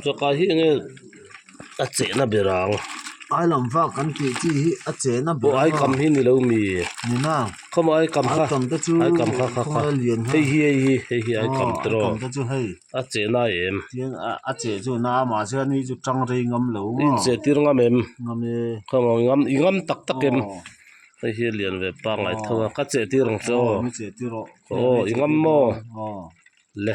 Chawhkah hi enge a chehna ber ang? Ai lam vak kan tih chi hi a chehna ber ang a. Aw aikam hi ni lo mi e. Ni nang. Khawm a aikam kha. Aikam te chu aikam kha kha kha. Hei hi hei hi hei hi aikam te rawh. Aw aikam te chu hei. A cheh nai em. Tin a cheh chu na mahse a ni chu tang rei ngam lo maw. In cheh tir ngam em. Ngam e. Khaw maw ngam i ngam tak tak em. Aw. Hei hi a lian ve pang ngai tho a. Ka cheh tir ang che aw. Aw mi cheh tir aw. Aw i ngam maw. Aw. Le.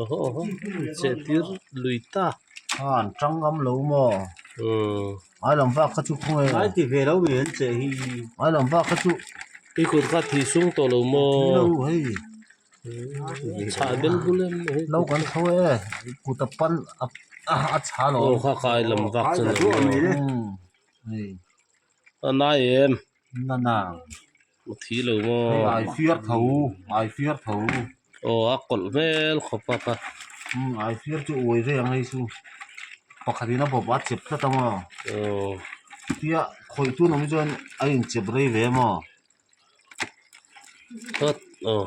oho oho chêtir lui ta âwm ṭang lam lo maw ai lam vâk kha chu khaw nge ai ti ve lo mai an che hi ai lam vâk kha chu i kut kha thih sung tawh lo maw ni lo hei chhah bel bul em ni hei lo kan tho e kut a pan a a chhah lo aw kha kha ai lam vâk chu ni lo hei a nai em nana. Ka thi lo maw. Hei ai fiar tho ai fiar tho. Aw a kawlh hmel khawp a kha. Umm ai fiar chu uai ve ang hei chu pakhat in a bawp a chep tlat a maw. Aw. Tia khawih tu awm hi chuan a inchep rei ve maw. Hawt aw.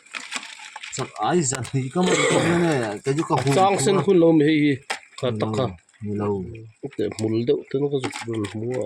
sang sen hun lo mi hei hi tha tak a hmul deuh te ka zuk ber hu a.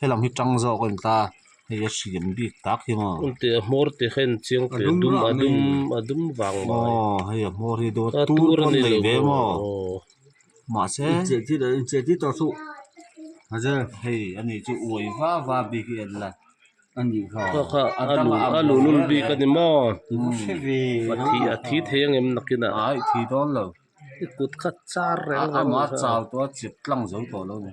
helang hi ṭang zawk a ni ta hei a hrilem bik tak hi maw heti a hmawr te kha inchiang teh a dum a dum a dum vang mai aw hei a hmawr hi dawn a tur pawn nei ve maw mahse incheh tih tawh thup hazel hei a ni chu uai va va bik hi a ni la a ni hlo kha kha a luhlul bik a ni maw a thi thei a ngem nakin a ai thi dawn lo i kut kha char reng reng a amah chau tawh a chep tlang zo tawh lo ni.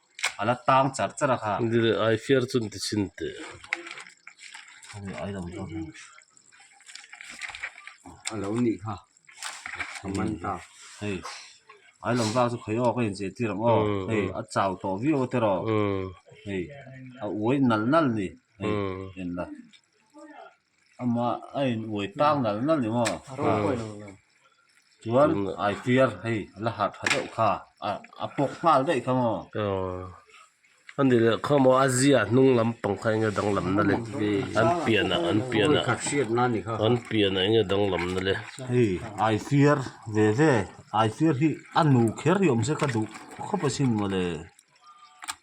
a la tang char char a kha. Ni le ai fiar chun ti chin teh. Kha ni ai lo zawk hi. A lo ni kha. Ka man ta. Hei. Ai lam vak chu khawih awk a incheh tir ang aw. Hei a chau tawh viau a tir aw. Hei a uai nal nal ni. Hei en la. amah a in uai tak nalh nalh i maw chuan ai tiar hei a la harh tha deuh kha a a pawk nghal daih kha maw a ni leh kha maw a zia hnung lam pang kha eng nge danglam nal i an pian ah an pian ah an pian ah eng nge danglam nal i hei ai fiar ve ve ai fiar hi a nu kher riawm se kha duh khawp asin maw le.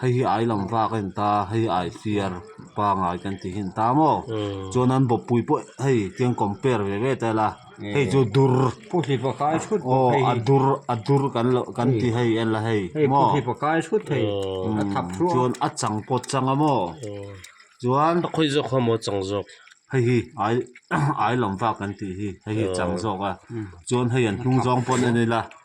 hei hi ai lam vak a in ta a hei ai fiar pangai kan tih hi in ta maw chuan an bawpui pawh hei tiang compare ve ve ta ila hei chu dur aw a dur a dur kan loh kan ti hei en la hei maw chuan a chang pawt chang a maw chuan hei hi ai ai lam vak kan tih hi hei hi a chang zawk a chuan hei an hnung zawng pawh a ni la.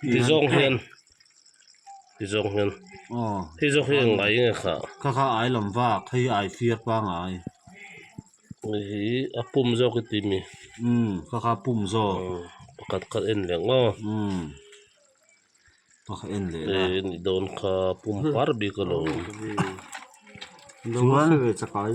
ti zawk hian ti zawk hian hei zawk hi a ngai nge kha kha kha ai lam vak hei ai fir pangai hei hi a pum zawk i ti mi kha kha pum zawk pakhat kha en leh ngawh pakhat en leh la hei ni dawn kha pum par bik a lo awm chuan.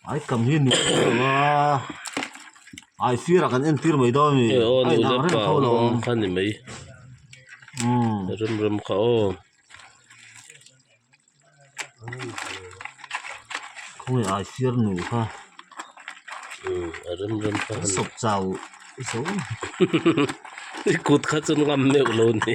Ai kam hi nuh teh lo va, ai sirah kan entir mai dawn a ni, ai dang reng tho lo ang, umm rem rem kha aw, khawnge ai sir nuh kha kan sawp chau zawng, i kut kha chu ngam meuh lo ni.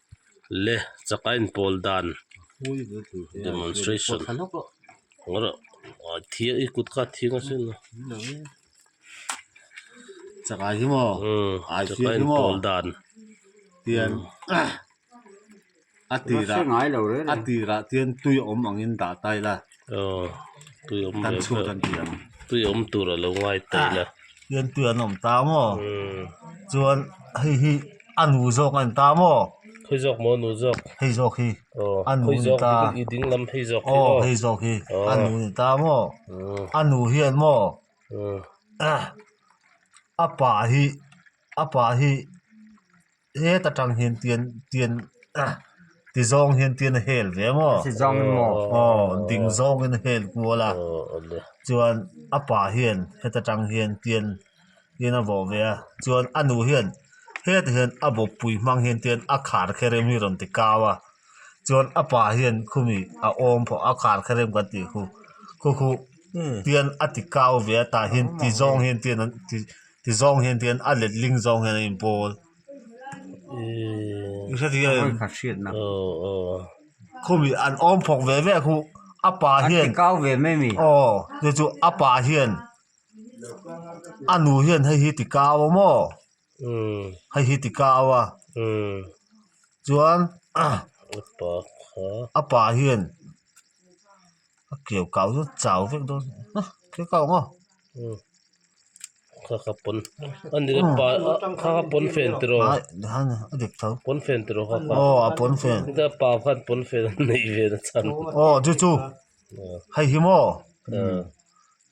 le chaka in pawl dan demonstration boruh thiang i kut ka thiang a sin chaka hi maw chaka in pawl dan tian a tirah a tirah tian tui awm ang in dah ta ila. Aw tui awm ve pheuh tui awm tur a lo ngai taih la tian tui an awm ta maw chuan hei hi a nu zawk a ni ta maw phei zawk maw nu zawk phei zawk hi a nu a ni ta aw phei zawk hi i ding lam phei zawk hi maw aw phei zawk hi a nu a ni ta maw a nu hian maw a pa hi a pa hi he ta tang hian tian tian ti zawng hian tian a hel ve maw a ti zawng em maw aw ding zawng in a hel kual a chuan a pa hian heta tang hian tian tian a vawh ve a chuan a nu hian heta hian a bawpui hmang hian tian a khar kherem hi a rawn ti kau a chuan a pa hian khumi a awm pawh a khar kherem kan tih khu khu khu tian a ti kau ve a tah hian ti zawng hian tian an ti. Tizawng hian tihian a let ling zawng hian a in pawl ih hre thei em khumi an awm phawk ve ve a khu a pa hian aw te chu a pa hian a nu hian hei hi ti kau a maw hei hi ti kau a chuan a pa hian. a keu kau zawt chau vek dawn ha keu kau ang aw kha kha pawn ani ka pa kha kha pawnfen tiro aih nihan a a dik tho pawnfen tiro kha kha aw a pawnfen ka pa khan pawnfen an neih ve nasa chhan aw chu chu hei hi maw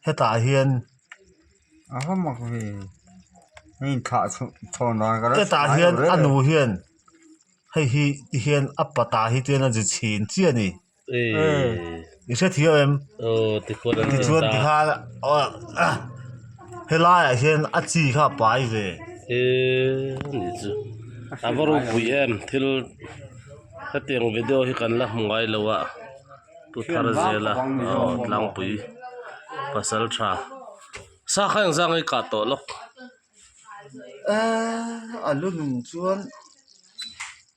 hetah hian a haw mak ve a inthlah chhuh chhawn dan ka la sawi hetah hian a nu hian hei hi ti hian a patah hi chuan a zit chhin chiah a ni. i hrethiah em tichuan tikhan helaiah hian a chi kha a pai ve a va rawn buih em thil hetiang video hi kan la hmu ngai lo a pu tharazela aw tlangpui pasaltha sa kha engza ngei kah tawh lawk a lu nung chuan.